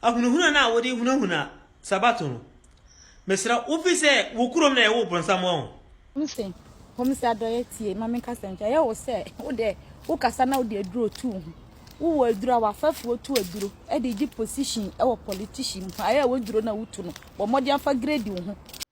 ahunahuna no a wode hunahuna Sabato no, mesrɛ wo fi sɛ wo kurom na yɛwoo bronsam wɔ ho. Ɔse, Hom si adɔyɛ tsie ma me nkasa ntwa. Yɛ wo sɛ wo dɛ wo kasa na wode aduro to wo ho. Wo wɔ aduro a w'afɛfoɔ tu aduro de gye position wɔ politician mu. Ayɛ a wo aduro no a wo tu no, bɔ mmɔden fa grade wo ho.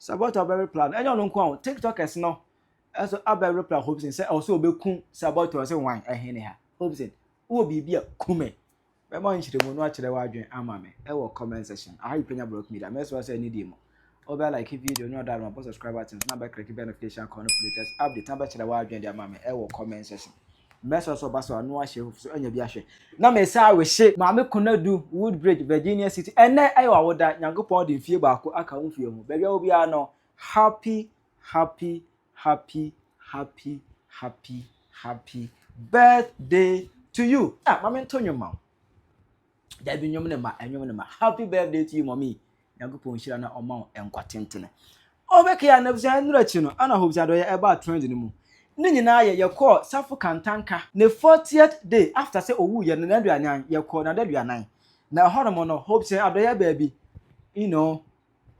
Sɛ Abbott a ɔbɛrepla no, ɛnyɛ ɔno nko ara o, Tiktokers no nso abɛrepla Hobson sɛ ɛwɔ sɛ obeku Sir Abbott a ɔse wan ɛhene ha. Hobson, wowɔ biribi a, ku me. Bɛma nkyerɛmu no akyerɛ w'adwene ama me ɛwɔ comment section. Aha yi Penya Block Media, mɛsrɛ sɛ ɛne di mu. Wobɛ like video no ɔda no, bɔ subscribe button so na bɛkleke bɛ notification call no for latest update na bɛkyerɛ w'adwene de ama me ɛwɔ comment section. Mɛsrɛ sɛ ɔba so a, na wahyɛ ahufi so anya bi ahwɛ. Na mesan rehye. Maame Konadu, Woodbridge, Virginia City. Ɛnnɛ yɛ w'awoda. Nyankopɔn de mfie baako aka wo mfie ho. Baabi a wɔ biara no, happy, happy, happy, happy, happy, happy birthday to you. Ah, ma mento nnwom ma wo. dabi nnwom ne ma nnwom ne ma happy birthday to you mommy nyankopɔn nhyira na ɔma wo nkwa tentene ɔbɛkɛyɛ anabusua nnura akyi no ana hobusua dɔyɛ ɛbaa trend no mu ne nyinaa yɛ yɛkɔɔ safo kantanka ne 40th day after sɛ owu yɛ no n'aduanan yɛkɔɔ n'adaduanan na ɛhɔnom no hobusua adɔyɛ baabi you know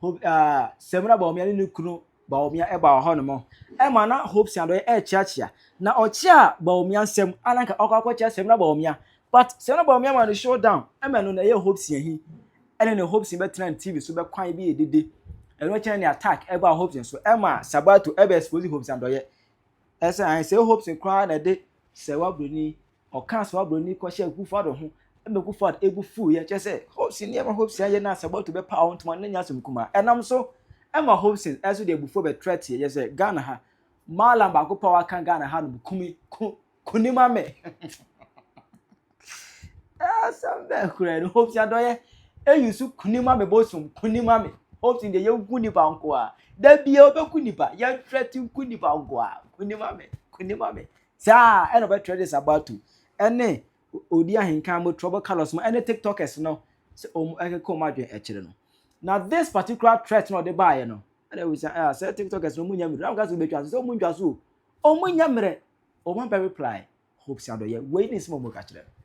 Hope ah, Samira Bawumia ne ne kunu Bawumia ɛbaa hɔ nom. Ɛma na Hope Siadɔe ɛrekyeakyea. Na ɔkyea Bawumia nsɛm, a na nka ɔkɔ akɔkyea Samira Bawumia. But Samira Bawumia ma no show down. Ɛma ɛno na ɛyɛ Hope Siahi. Ɛne ne Hope Sin bɛtena ne TV so bɛkwan bi ɛdede. Ɛno akyi na ne attack ɛbaa Hope Sin so. Ɛma Sabato ɛbɛ expose Hope Siadɔe. Ɛsɛ ahe sɛ Hope Sin koraa na ɛde sɛ wabroni Ɔkaa saa obroni kɔhyɛɛ Kufuor ho ma Kufuor bo fuiɛ, kyerɛ sɛ Hobson yɛ ma Hobson ayɛ no asɛm ɔto bɛpaw wo ntoma no na nya asɛm kumaa. Ɛnam so ma Hobson nso de abufuo bɛtrɛ teɛ yɛ sɛ Ghana ha Mallam baako pɛ a waka Ghana ha nom kumi ku kuni ma me. Asɛm bɛn koraa no Hobson adɔyɛ eyi so kuni ma me bosom kuni ma me Hobson deɛ yɛnku nipa nko a da bia wobɛku nipa yɛtrɛ te nku nipa nko a kuni ma me kuni ma me Saa ara na ɔbɛtrɛ de Sabato ne odi ahenkan mu trouble colours mu ne tiktokers no sɛ wɔn ɛkeka wɔn adwene ɛkyerɛ no. Na this particular threat na ɔde baeɛ no ɛna ɛwɔ sɛ ah sɛ tiktokers no wɔn nyɛ mmerɛ na wɔn ka sɛ wɔn bɛtwa so sɛ wɔn ntwa so o wɔn nyɛ mmerɛ wɔn abɛ reply Hope Sadoyɛ wei ne nsɛm a wɔn ka kyerɛ no.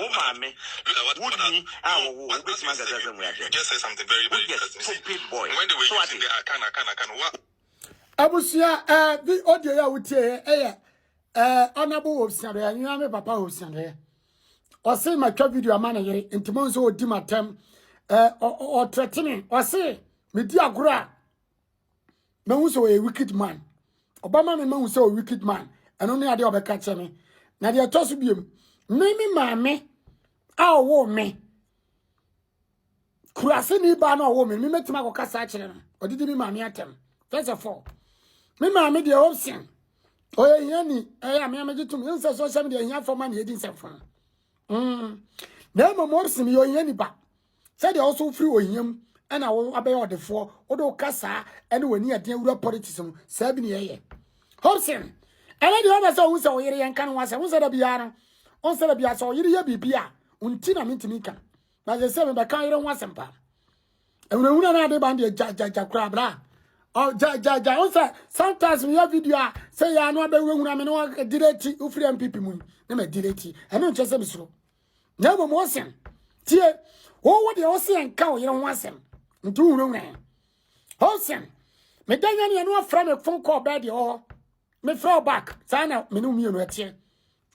Wo maame, wo nni a wɔwoo wo, wobɛtumi ankasa asɛm wei akyerɛ me? Woyɛ stupid boy. So ate? Abusua eh, bi audio ya wutie yɛ eh, ɛyɛ eh, honorable Hobson Adoye nyina me papa Hobson Adoye ɔse matwa video ama ne yere nti mo nso ɔdi matam eh, ɔtrɛtene ɔse medi agorɔ a mahu sɛ ɔyɛ wicked man ɔbɛma me mahu sɛ ɔyɛ wicked man ɛno ne adeɛ ɔbɛka kyɛ me na deɛ ɛtɔ so biom me me maame a ɔwɔ me kurase ne baa na ɔwɔ me me mɛtumi akɔka saa kyerɛ no ɔde di me maame atɛm first of all me maame deɛ ɔsen ɔyɛ hia ni ɛyɛ ame amegye tom ɛhu sɛ sɛ ɔhyɛ me deɛ hia fɔ ma ne ɛdi nsɛmfo no mm. na mmom ɔsen yɛ ɔhia ni ba sɛdeɛ wo nso wofiri ohia mu ɛna wo abɛyɛ ɔdefoɔ wode wo kasaa ɛne w'ani adeɛ wura politics mu saa bi ne yɛyɛ hobson ɛne deɛ ɔbɛ sɛ ɔhu sɛ ɔyere yɛnka no ho asɛ wo sɛ da biara no wo sɛ da biara sɛ ɔyere yɛ biribi a nti na mentumi nka na sɛ sɛ mebɛka yere ho asɛm paa ɛhunahuna no ade ban deɛ gyagyagya koraa bra gyagyagya wo sɛ sometimes meyɛ video a sɛ yɛ ano abɛhunahuna me ne ɔdireti wofiri mpp mu ne madireti ɛno nkyɛ sɛ mesuro na mmom wo se tie wowo deɛ wo se nka wo yere ho asɛm nti wohunahuna ɛ wo se meda nya neɛ no afrɛ me fon kɔɔ bɛɛ deɛ ɔhɔ mefrɛ wo back saa na mene mmienu ɛteɛ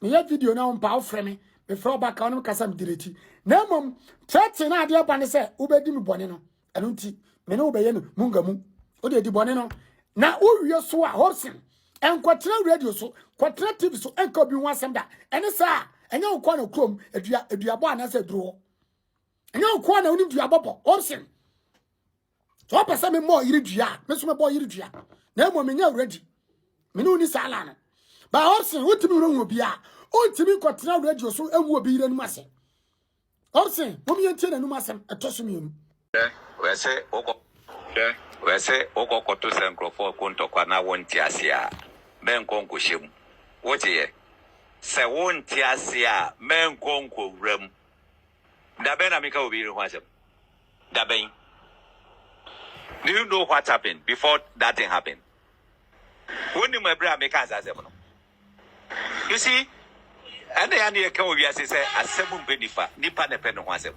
meyɛ video na wompa wofrɛ me mefrɛ wo back a wonom kasa medireti na mmom trɛte na adeɛ ba ne sɛ wobɛdi me bɔne no ɛno nti me ne wo bɛyɛ no munga mu wode adi bɔne no na wowie so a hobson ɛnkɔtena radio so kɔtena tv so ɛnka obi ho asɛm da ɛne saa ɛnyɛ wo kɔɔ na kurom adua aduabɔ anaasɛ aduro hɔ ɛnyɛ wo kɔɔ na wonim duabɔbɔ hobson sɛ wopɛ sɛ memmɔ yere dua a me so mɛbɔ yere dua na mmom menyɛ awuradi me ne wo ni saa la no ba hobson wotumi werɛ hu obi a wontumi nkɔtena radio so ɛnwu obi yere anim ase Ɔse mom yɛntie n'anum asɛm ɛtɔ so mmienu. Hwɛ ɔse wokɔ hwɛ ɔse wokɔ kɔto sɛ nkurɔfoɔ ko ntɔkwa na wonte aseɛ a mɛnkɔ nkɔhyɛ mu woteɛ sɛ wonte aseɛ a mɛnkɔ nkɔwura mu dabɛn na meka obi yere ho asɛm dabɛn do you know what happened before that thing happened wonim ɛberɛ a meka saa asɛm no You see, ɛna ya ne yɛka wɔ wiase sɛ asɛm mpɛ nipa, nipa na ɛpɛ ne ho asɛm.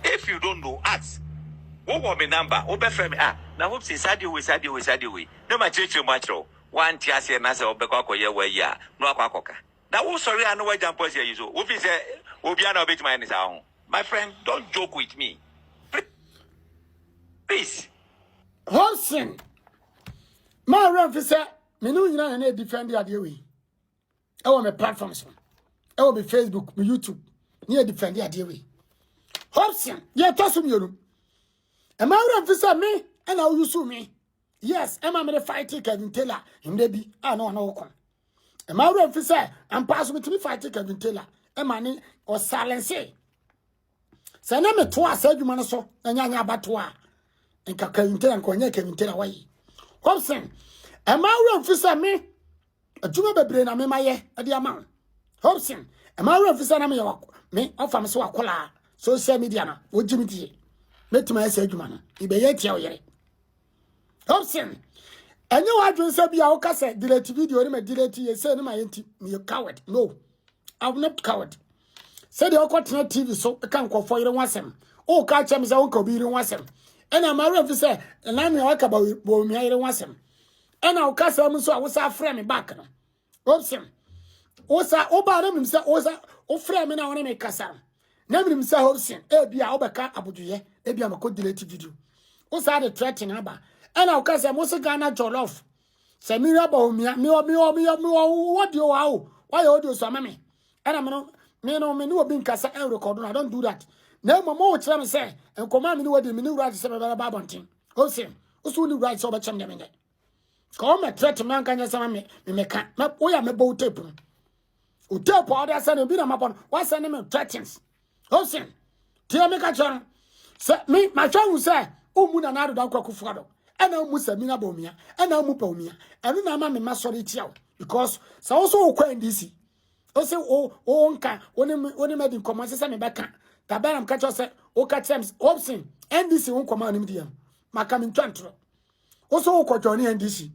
If you don't know, ask. Wowɔ me number, wobɛfrɛ me, ah, na hope say saa deɛ wei, saa deɛ wei, saa deɛ wei, na makyerɛkyerɛ mu akyerɛ wo. Woante aseɛ na sɛ wobɛkɔ akɔyɛ w'ayi a, na wakɔ akɔka. Na wosɔre a na wagya mpɔsi ayi so. Wofi sɛ obiara na wobɛtumi ayɛ ne saa ho. My friend, don't joke with me. Please. Hobson, ma werɛ mfi sɛ me ne wo nyinaa na ɛdifɛnde adeɛ wei ɛwɔ me platform so ɛwɔ me facebook me youtube ne ɛdifɛnde adeɛ wei hobson deɛ ɛtɔ so mmienu ɛma wura mfi sɛ me ɛna woyusu me yes ɛma mede fight kevin taylor mmerɛ bi a na ɔne wo kɔ ɛma wura mfi sɛ ampa so metumi fight kevin taylor ɛma ne ɔsalense sɛ na metoa saa adwuma no so na nyanya abato a nka kawinte na nkɔnyɛ kawinte na wɔyi hobson ɛma awura mfi sɛ me adwuma bebree na mema yɛ ɛde ama wo hobson ɛma awura mfi sɛ na meyɛ me ɔfa me sɛ wakɔlaa social media no wogye me die mɛtumi ayɛ saa adwuma no mebɛyɛ atia wo yere Option. Ɛnyɛ w'adwene sɛ bi a woka sɛ delete video ne ma delete yɛ sɛ ne ma yɛ nti meyɛ coward. No, I'm not coward. Sɛdeɛ wokɔtena TV so ka nkɔfoɔ yere ho asɛm. Woka kyɛ me sɛ wonka obi yere ho asɛm. Ɛna ma werɛ mfi sɛ nanea waka bawumia yere ho asɛm. Ɛna woka sɛ mu nso a wosa afrɛ me back no. Obsem. Osa oba na mnim sɛ osa ofrɛ me na wone me kasa. Na mnim sɛ Hobson ebi a wobɛka abodwoyɛ ebi a mekɔ delete video. Osa de threaten aba. Ɛna woka sɛ mo se Ghana jollof. Sɛ me wura ba omia me me me me wo de wa o. Wa yɛ audio so ama me. Ɛna me no me no me ne obi nkasa ɛn record no. I don't do that. Na mmom mo kyerɛ me sɛ nkɔmɔ a me ne wadi me ne wura sɛ bɛbɛba abɔnten. Hobson. Oso ne wura sɛ ɔbɛkyɛm dɛ me nyɛ. ka o me threat me anka nyɛ sɛ me me meka me wo ya me bo tape no o tape a ɔde asɛ no bi na mabɔ no wasɛ ne me threatens osin tie me ka kyerɛ no sɛ me mahwɛ hu sɛ womu na naado da kwaku foa do ɛna womu sɛ mina bɔ omia ɛna womu pɛ omia ɛno na ama me ma sɔre tia wo because sɛ wo so wokɔ ndc o sɛ o o nka wo ne wo ne madi nkɔmmɔ sɛ sɛ mebɛka da bɛnam ka kyerɛ sɛ woka kyerɛ m opsin ndc wo nkɔmmɔ a wonim deɛ no maka mentwa ntorɔ wo so wokɔ jɔne ndc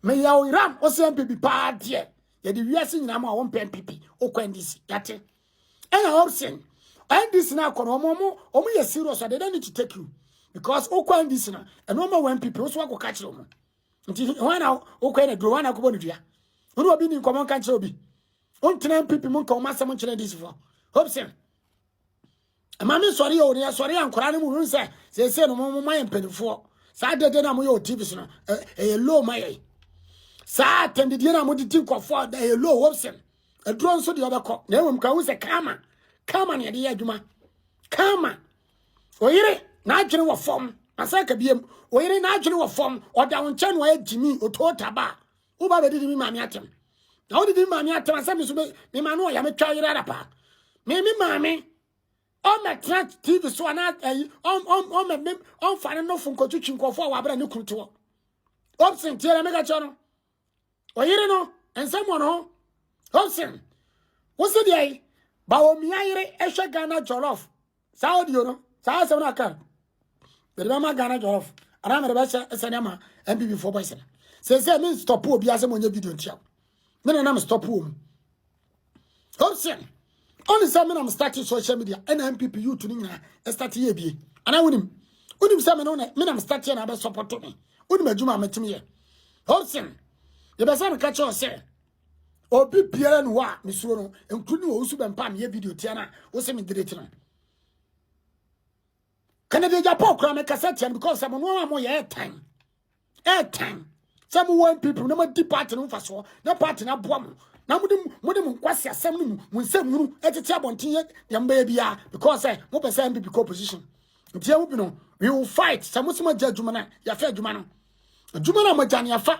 meyɛ wo yeram wo sɛ mpipi paa deɛ yɛde wiase nyinaa mu a wompɛ mpipi wokɔ ndc yɛte ɛna option ndc no akɔ no ɔmo ɔmo ɔmo yɛ serious ade dɛ ne to take you because wokɔ ndc no ɛno ɔma wɔ mpipi wo so wakɔka kyerɛ ɔmo nti hwan na wokɔ na duro hwan na akɔbɔ no dua wo ne obi ni nkɔmmɔ nka nkyerɛ obi wontena mpipi mu nka ɔmo asɛm nkyerɛ ndc foɔ option ɛma me sɔre o ne ɛsɔre a nkwadaa no mu hu sɛ seesei no mo ma yɛ mpanimfoɔ saa dede no a moyɛ wɔ tv so no ɛyɛ low ma yɛn saa atɛndedie no a mode ti nkɔfoɔ ɛyɛ low wɔpsɛm aduro nso deɛ ɔbɛkɔ na ɛwom ka hu sɛ kama kama ne ɛde yɛ adwuma kama oyere n'adwene wɔ fam asɛ ka biam oyere n'adwene wɔ fam ɔda wo nkyɛn no ayɛ gyimi otoo taba wo ba bɛdidi me maame atɛm na wodidi me maame atɛm asɛ me so me ma no ɔya metwa yerɛ ara paa me me maame ɔmmɛtena tv so anaa ayi ɔmmɛmem ɔmfa ne nofo nkɔtwitwi nkɔfoɔ a wɔabrɛ ne kunu toɔ opsen tiɛ dɛ meka kyerɛ no ɔyere no nsɛm wɔ no ho opsen wo se deɛ ba wɔ mia yere ɛhwɛ ghana jollof saa audio no saa asɛm no aka mede bɛma ghana jɔlɔf anaa mede bɛhyɛ ɛsɛne ama mpp foɔ bɔyɛ sɛne sɛ sɛ me stɔpo obi asɛ monyɛ video ntia me na nam stɔpo wɔ mu option ɔne sɛ me nam start social media ɛna mpp youth no nyinaa ɛstart yɛ bie anaa wonim wonim sɛ me no na me nam start yɛ na abɛsɔpɔto me wonim adwuma a mɛtumi yɛ option yɛbɛsɛ meka kyerɛ sɛ obi biara ni hɔ a mesuro no nkuru ne wɔwusu bɛmpa a meyɛ video tia no a wo se medelete no kennedy japan kora mekasa tia no because sɛ mo no a moyɛ ɛtan ɛtan sɛ mowɔ mpp na moadi party no mfasoɔ na party no aboa mo na mode mode mo nkwasi asɛm no mu mo nsɛm hunu ɛtete abɔnten yɛ deɛ mobɛyɛ biara because sɛ mopɛ sɛ mpp kɔ opposition nti ɛmu bi no we will fight sɛ mo sɛ moagya adwuma no a yɛafa adwuma no adwuma no a moagya no yɛafa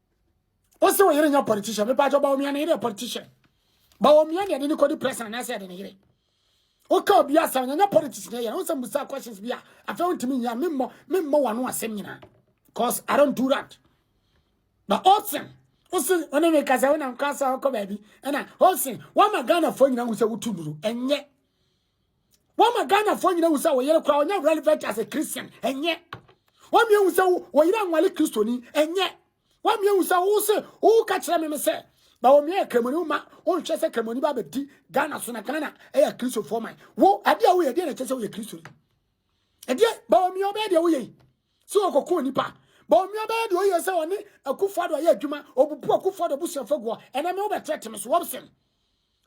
wose wo yere nya politician me pacho ba omia ne yere politician ba omia ne ne kodi press na se de ne yere o ka obi asem nya politics ne yere wose musa questions bi a afa ontimi nya me mo me mo wano asem nyina cause i don't do that but osen osen one me kasa wona nkasa ko ba bi na osen wa magana fo nyina wo se wotu nuru enye Wama Ghanafoɔ nyina hu sɛ wo yere koraa ɔnyɛ relevant as a Christian ɛnyɛ. Wame ahu sɛ wo yere anwale Kristoni ɛnyɛ. Wame ahu sɛ wo se wo ka kyerɛ me me sɛ ba wɔ meɛ kramoni wo ma wo nhwɛ sɛ kramoni ba bɛdi Ghana so na Ghana ɛyɛ Kristofoɔ man. Wo adeɛ a woyɛ deɛ na kyɛ sɛ woyɛ Kristoni. Ɛdeɛ ba wɔ meɛ ɔbɛyɛ deɛ woyɛ yi sɛ wɔkɔko onipa ba wɔ meɛ ɔbɛyɛ deɛ ɔyɛ sɛ ɔne akufo ado ayɛ adwuma ɔbubu akufo ado abusuafo guɔ ɛnɛ me wobɛtrɛte me so wɔbsɛm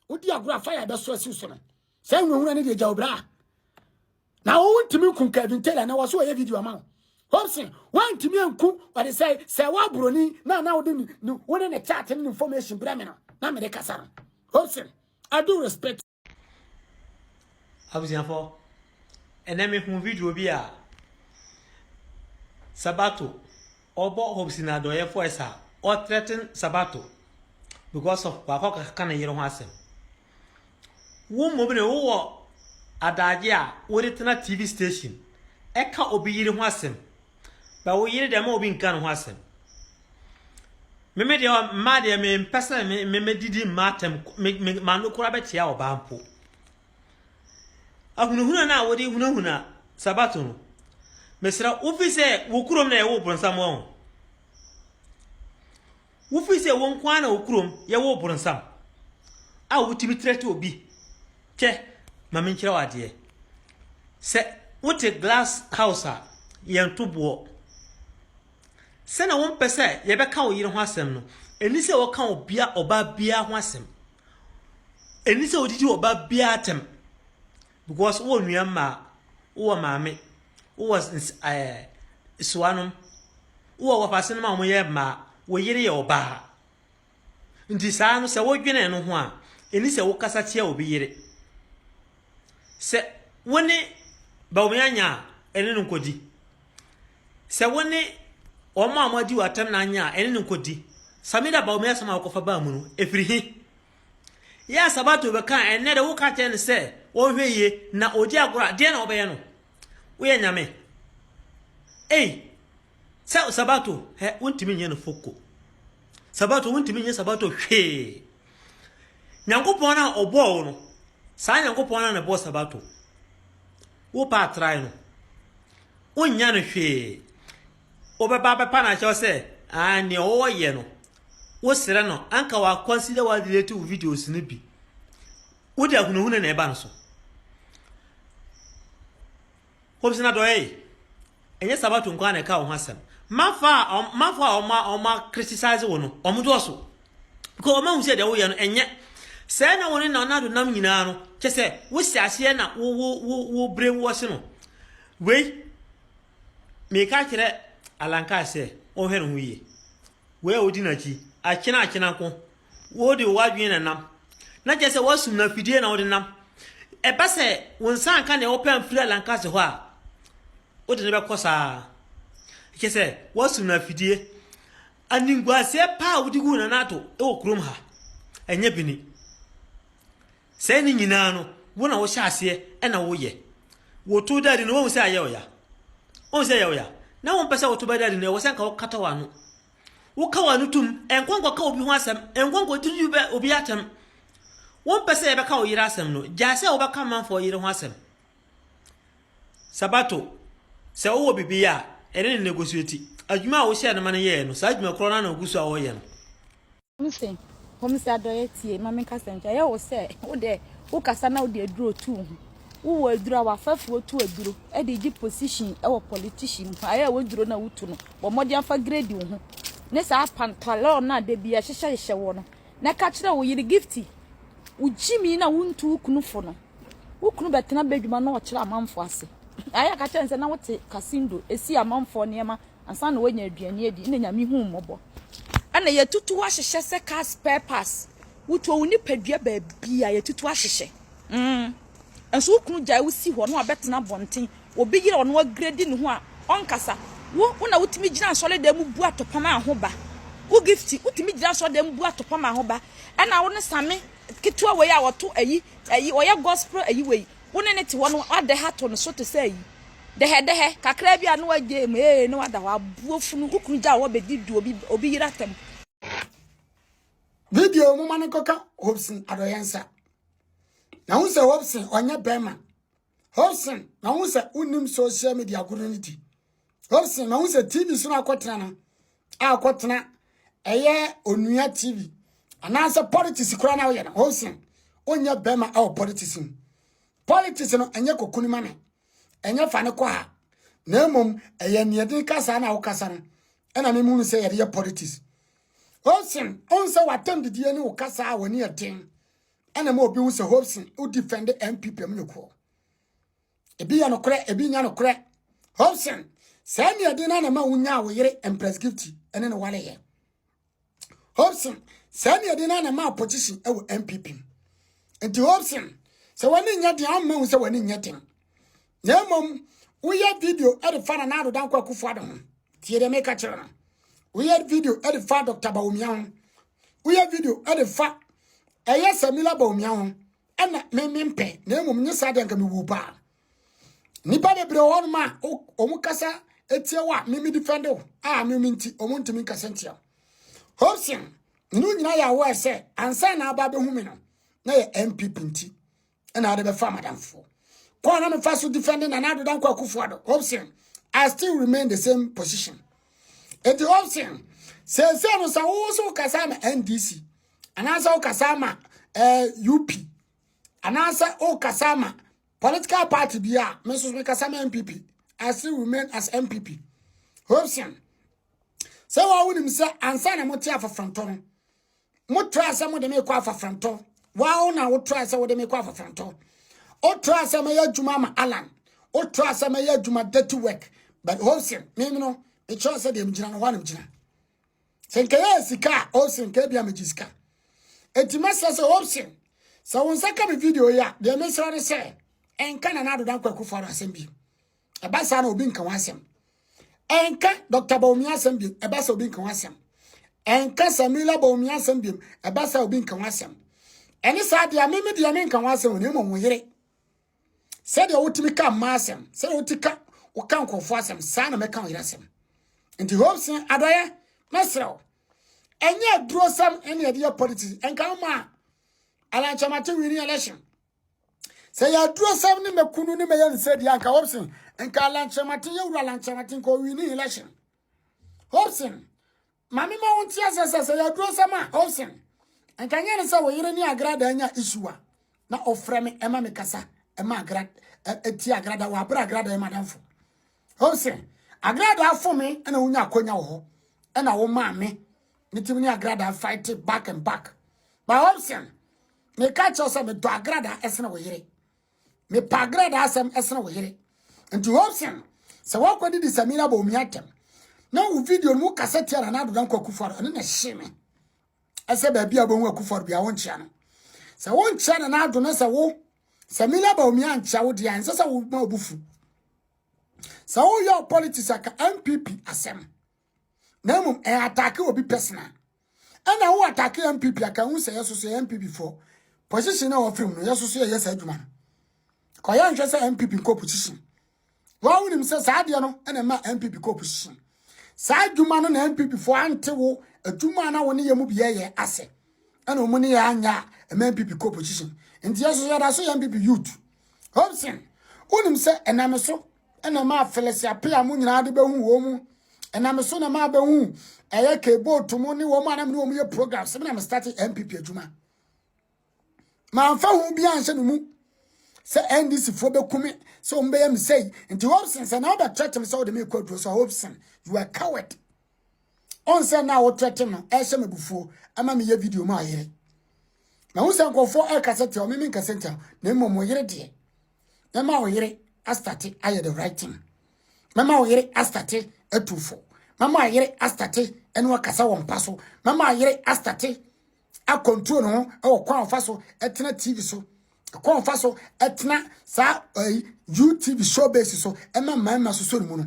wodi agorɔ a fire bɛso asiw so no saa nwurawura no deɛ gya obira a na wontumi nkum Kevin Taylor na wɔso wɔyɛ video ama wo Hobson woantumi anku ɔde sɛ sɛ woaburoni na na wode wo ne ne chat ne information brɛ me no na mede kasa no Hobson I do respect abusuafo ɛnɛ mehu video bi a sabato Ɔbɔ hope si n'adɔyɛfo ɛsa a ɔ threaten sabato because of wakɔ kaka ne yere ho asɛm. Wo mmom ne wo wɔ adagye a wode tena TV station ɛka obi yere ho asɛm but wo yere deɛ ma obi nka ne ho asɛm. Meme deɛ mmaa deɛ mempɛ sɛ me me medidi mmaa atɛm me me m'ano koraa bɛkyea ɔbaa mpo. Ahunahuna no a wode hunahuna Sabato no, mesrɛ wo, wofi sɛ wo kurom na yɛwoo boronsam wɔ ho. Wofi sɛ wo nko ara na wo kurom yɛwoo boronsam a wotumi trɛte obi kyɛ ma menkyerɛ wo adeɛ. Sɛ wote glass house a, yɛnto boɔ. Sɛnea wompɛ sɛ yɛbɛka wo yere ho asɛm no, ɛni sɛ wɔka obia ɔbaa biara ho asɛm. Ɛni sɛ wodidi wɔ ba biara atɛm because wowɔ nua mmaa, wowɔ maame, wowɔ ns ɛɛ suanom, wowɔ wɔpasenom a wɔyɛ mmaa, wo yere yɛ ɔbaa. Nti saa no sɛ wodwene no ho a, ɛni sɛ wokasa tia obi yere. Sɛ wo ne Bawumia nya a, ɛne no nkɔdi. Sɛ wo ne wɔn a wɔadi w'atɛm na anyɛ a, ɛne no nkɔdi. Samida ba omi asɛm a wokɔfa baa mu no, ɛfiri he? Yɛ a sabato bɛka a, ɛnnɛ dɛ woka kyerɛ no sɛ wɔnhwɛ yie na ɔdi agorɔ a, deɛ na wobɛyɛ no? Woyɛ nyame? Ei! Sɛ sabato, hɛ, wontumi nyɛ no foko. Sabato, wontumi nyɛ sabato hwee. Nyankopɔn a ɔbɔɔ wo no, saa Nyankopɔn no na ɛbɔɔ sabato. Wopɛ a try no. Wonnya no hwee. Wobɛba abɛpa no akyɛw sɛ ah nea wɔyɛ no wosrɛ no anka wa consider wa delete wo videos no bi. Wode ahunahuna na ɛba no so. Hobsona dɔyɛ ɛnyɛ sabato nko na ɛka wo ho asɛm. Mafo a mafo a wɔn a wɔn criticize wo no wɔn dɔɔso. Because wɔn ahu sɛ deɛ woyɛ no ɛnyɛ. Sɛ na wɔn ne Nana Addo nam nyinaa no, kyɛ sɛ wosi aseɛ na wo wo wo wo brain wash no. Wei, meka kyerɛ Alankaa sɛ ɔnhwɛ ne ho yie. Wei a wodi n'akyi, akyena akyena nko, wode w'adwene na nam. Na kyɛ sɛ wasum no afidie na wode nam. Ɛba sɛ wo nsa anka nea wopɛ amfiri Alankaa se hɔ a, wode no bɛkɔ saa. Kyɛ sɛ wasum no afidie. Animguaseɛ pa a wode gu Nana Addo wɔ kurom ha, ɛnyɛ bi ni. Sɛɛ ne nyinaa no, wo na wohyɛ aseɛ na woyɛ. Woto Daddy no, woahu sɛ ayɛ ɔya? Woahu sɛ ɛyɛ ɔya? Na wompɛ sɛ woto bɛ Daddy no, ɛwɔ sɛ nka wokata w'ano. Woka w'ano tom, nkɔ nkɔka obi ho asɛm, nkɔ nkɔdidi bɛ obi atɛm. Wompɛ sɛ yɛbɛka wo yere asɛm no, gyae sɛ wobɛka manfoɔ yere ho asɛm. Sabato, sɛ wowɔ biribi yɛ a, ɛne no negotiate. Adwuma a wohyɛɛ no ma no yɛe no, saa adwuma korɔ no ara na ogu so a ɔreyɛ no. Hom se, Hom se adɔyɛ tsie, ma menkasa nkyɛ. Ɔyɛ wo sɛ wo dɛ wokasa na wode aduro tu wo ho. Wowɔ aduro a w'afɛfoɔ tu aduro de gye position wɔ politician mu. Ayɛ a w'aduro no a wotu no, bɔ mmɔden afa grade wo ho ne saa pantalon no a da biara hyehyɛhyehyɛ woɔ no, na ka kyerɛ wo yere Gifty, wo gyimii no a wontu wo kunu fo no. Wo kunu bɛtena badwuma na ɔkyerɛ amanfoɔ ase. Ayɛ ka kyerɛ no sɛ na wote kasindo si amanfoɔ nneɛma ansa na woanya aduane adi. Ɛna Nyame hu mmɔbɔ. Ɛna yɛtutu ahyehyɛ sɛ car spare parts. Wotuo wo nipadua baabi a yɛtutu ahyehyɛ. Mm. Nso wo kunu gyae wo si hɔ na wabɛtena abɔnten. Obi yere ɔno agredi ne ho a ɔnkasa. Wo, wo na wotumi gyina asɔredan mu bu atɔpam a ho ba. Wo gifti, wotumi gyina asɔredan mu bu atɔpam a ho ba. Ɛna wo ne same ketewa wei a ɔto ayi ayi ɔyɛ gospel ayi wei wo ne ne te hɔ no adɛ ha to no so te sɛ ayi dɛhɛdɛhɛ kakra bi a na wagye mu ee na wada hɔ aboɔ funu wo kunu gya wɔ bɛdi du obi obi yera tam. video moma no kɔka hobson adɔyɛ nsa na wo sɛ hobson ɔnyɛ bɛrima Hobson, mahu sɛ wonnim social media koro no ti. Hobson, mahu sɛ TV so na akɔtena no a akɔtena ɛyɛ onua TV anaasɛ politics koraa na woyɛ no. Hobson, wonyɛ bɛrima ɛwɔ politics mu. Politics no ɛnyɛ kokuni ma me, ɛnyɛ fa ne kɔ ha, na mmom ɛyɛ nneɛden kasa na wokasa no ɛna memu no sɛ yɛde yɛ politics. Hobson, ɔn sɛ watam didie ne wo kasa a w'ani ɛden ɛna ma obi hu sɛ Hobson wo defend MPP mu no korɔ ebi yɛ nokorɛ ebi nya nokorɛ Hobson saa nea ɛde na na ma wonya wo yere Empress Gifty ɛne no wale yɛ Hobson saa nea ɛde na na ma opposition ɛwɔ MPP mu nti Hobson sɛ wɔne nyɛ den ɔmma hu sɛ wɔne nyɛ den na mmom woyɛ video ɛde fa na na adoda nkɔ akufo ado ho tie deɛ meka kyerɛ no woyɛ video ɛde fa Dr. Bawumia ho woyɛ video ɛde fa ɛyɛ samila bɔmia ho ɛna me me mpɛ na mmom nye saa deɛ nka mewu paa nipa bebree hɔ nom a wɔn kasa etie wo a me me defend wo a me me nti wɔn ntumi nkasa ntia hobson ne nyinaa yɛ awɔ ɛsɛ ansa na aba abɛhu me no na yɛ npp nti ɛna ade bɛfa madamfoɔ kɔɔ na mefa so defending na nado dankɔ akufo ado hobson i still remain the same position eti hobson sɛsɛ no sɛ wo so kasa ma ndc anaasɛ wo kasa ma eh, up anaasɛ wo kasa ma political party bi a me nso me kasa ma npp i still remain as npp hobson sɛ wɔn awonim sɛ ansa na mo te afafantɔ no Motrae sɛ mode me kɔ afafrantɔ. Wɔn na wotrae sɛ wode me kɔ afafrantɔ. Wotrae sɛ mɛyɛ adwuma ma Alan. Wotrae sɛ mɛyɛ adwuma dirty work. But Olsen, me no, mekyerɛ sɛ deɛ megyina no hɔ a na megyina. Sɛ nkɛyɛ sika a, Olsen, ka ebia megye sika. Enti mɛsrɛ sɛ Olsen, sɛ wo nsa ka me video yi a, deɛ mesrɛ ne sɛ, ɛnka Nana Ado Dankwa Akufo-Addo asɛm bio. ɛba saa na obi nka ho asɛm ɛnka dr baomi asɛm biom ɛba sɛ obi nka ho asɛm ɛnka samila baomi asɛm biom ɛba sɛ obi nka ho asɛm ɛne saa deɛ meme deɛ menka ho asɛm na mmom wo yere sɛdeɛ wotumi ka mma asɛm sɛdeɛ woti ka woka nkurɔfoɔ asɛm saa na mɛka wo yere asɛm nti hope sɛ adɔyɛ mɛserɛ wo ɛnyɛ adurosɛm ɛne ɛdeɛ politics ɛnka wo ma a alankyɛmate winning election sɛ yɛ aduro sɛm ne mɛkunu ne mɛyɛ ne sɛ deɛ anka hobson nka alankyɛmaten yɛwura alankyɛmaten ka ɔwi ne election hobson mame ma wonte asɛ sɛ sɛ yɛ aduro sɛm a hobson nka nyɛ ne sɛ wo yere ne agrada anya isua na ɔfrɛ me ɛma me kasa ɛma agrada ɛti agrada wɔ abere agrada ɛma danfo hobson agrada afo me ɛna wonya akonya wɔ hɔ ɛna wo maa me ne tim ne agrada fight back and back ba hobson meka kyerɛ sɛ medɔ agrada ɛsene wo yere mepɛ agrada asɛm ɛsene wo yere nti hobson sɛ woakɔdi di samira bɔ omi atɛm na wo video no mu kasa tia na na adoda nkɔ akufo ado ɛne na ɛhye me ɛsɛ baabi a bɛhu akufo ado bia wonkyea no sɛ wonkyea na na ado no sɛ wo samira bɔ omi ankyea wo deɛ ɛnsɛ sɛ woma obufu sɛ woyɛ politics aka mpp asɛm na mmom ɛyɛ atake obi personal ɛna wo atake npp aka hu sɛ yɛsoso yɛ npp foɔ position na wɔfiri mu no yɛsoso yɛyɛ saa adwuma no kɔyɛ nhwɛ sɛ npp nkɔ position wɔn wonim sɛ saa adeɛ no ɛna ɛma npp kɔ position saa adwuma no na npp foɔ ante wo adwuma na wo ne yɛ mu bi yɛyɛ ase ɛna wɔn ne yɛ anya ɛma npp kɔ position nti yɛsoso yɛda so yɛ npp youth Hobson, wonim sɛ ɛnam so ɛna maa Felicia Pea mo nyinaa de bɛhu wɔn mu. Ɛnam so na maa bɛhu ɛyɛ K-Boat mo ne wɔn a na me ne wɔn yɛ program sɛ me na me start NPP adwuma. Mamfa ho bi anhyɛ me mu sɛ NDC foɔ bɛkume sɛ wɔn bɛyɛ me sɛi. Nti Hobson sɛ na wobɛtrɛte me sɛ wode me kɔ aduro sɛ Hobson, you are coward. ɔnsɛ na wo threaten no ɛhyɛ me bufuo ɛma me yɛ video ma ayere na wo sɛ nkɔfoɔ ɛkasa tia ɔme me nkasa ntia na mmom mo yere deɛ mɛma wo yere astate ayɛ the right thing mɛma wo yere astate atufo mɛma ayere astate ɛne wakasa wɔ mpa so mɛma ayere astate akɔntuo no ho ɛwɔ kwan ɔfa so ɛtena tv so kwan ɔfa so ɛtena saa ɛyi utv show base so ɛma mmarima so so ne mu no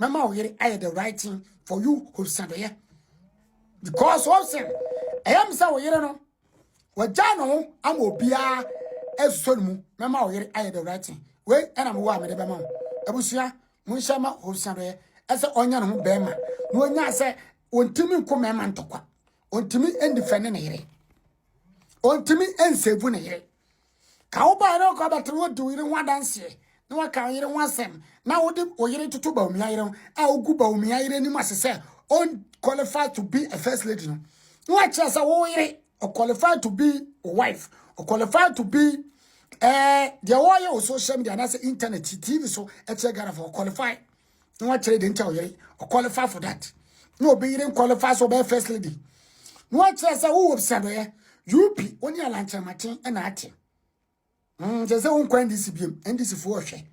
mɛma wo yere ayɛ the right thing for you horisadɔyɛ because wɔn sɛ ɛyɛ mi sɛ wo yere no wɔgya ne ho ama obiara ɛsosɔ ne mu mɛma wo yere ayɛ the right thing wei ɛna mewɔ a mede bɛma wo abusua monhyɛ ma horisadɔyɛ ɛsɛ ɔnya ne ho bɛrima na ɔnya sɛ ɔntumi nko mmarima ntɔkwa ɔntumi ndifɛne ne yere ɔntumi nsɛvu ne yere Ka wo ba a na ɔkɔ abɛtena hɔ di wo yere ho adanseɛ na waka wo yere ho asɛm na wode wo yere toto Bawumia yere ho a wogu Bawumia yere anim ase sɛ on qualify to be a first lady no na wakyerɛ sɛ wo yere o qualify to be wo wife o qualify to be eh deɛ wɔyɛ wɔ social media anaasɛ internet tv so ɛkyerɛ Ghana for qualify na wakyerɛ deɛ nti a ɔyere ɔqualify for that na obi yere nqualify sɛ ɔbɛyɛ first lady na wakyerɛ sɛ wowɔ bisadɔyɛ up wo ne alankyerɛmaten ɛna ate mm, kyerɛ sɛ wonkɔ ndc biam ndc foɔ ɔhwɛ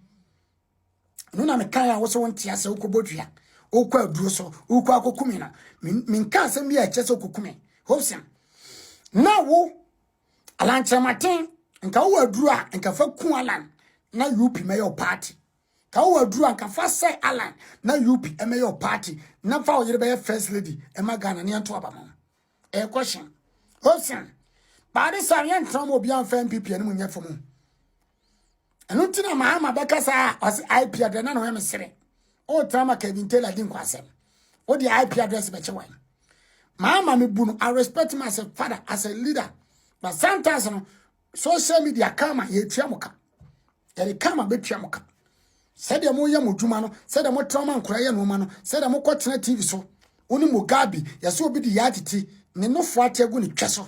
no na mekae a wo sɛ wonte asɛ wokɔbɔ dua wokɔ aduro so wokɔ akɔkume no menka asɛm bi a ɛkyɛ sɛ wokɔkume hobson na wo alankyerɛmaten nka wowɔ aduro a nka fa ku alan na up mɛyɛ wo party Ka wo aduru a nka fa sɛe Allan na UP ɛmɛyɛ wo party na fa wo yere bɛyɛ first lady ɛma Ghana ne ɛnto aba mo. Ɛyɛ question. Osan. Baade sa yɛn tena mo obi anfa MPP anim nyɛ fam. Ɛno nti na Mahama bɛka saa ɔse IP address na no yɛ mesere. O tama Kevin Taylor di nkwasɛm. O de IP address bɛkyɛ wan. Mahama me bu no I respect him as a father as a leader. But sometimes no social media kama yɛtua mo ka yɛde kama bɛtua mo ka sɛdeɛ moyɛ mo adwuma no sɛdeɛ motra ma nkora yɛ nnoɔma no sɛdeɛ mokɔtena tv so wo ne mugabe yɛsɛ obi de yɛ atete ne nofo ate agu ne twɛ so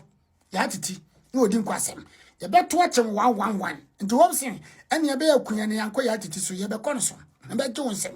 yɛ atete na ɔdi nkɔ asɛm yɛbɛto akyɛm one one one nti wɔm se ɛne yɛbɛyɛ akua ne yankɔ yɛ atete so yɛbɛkɔ no so na bɛgye wo nsɛm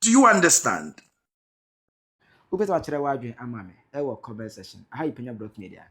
Do you understand? Wobɛtumi akyerɛ w'adwene ama me wɔ comment section. Aha yɛ Panya Brock Media.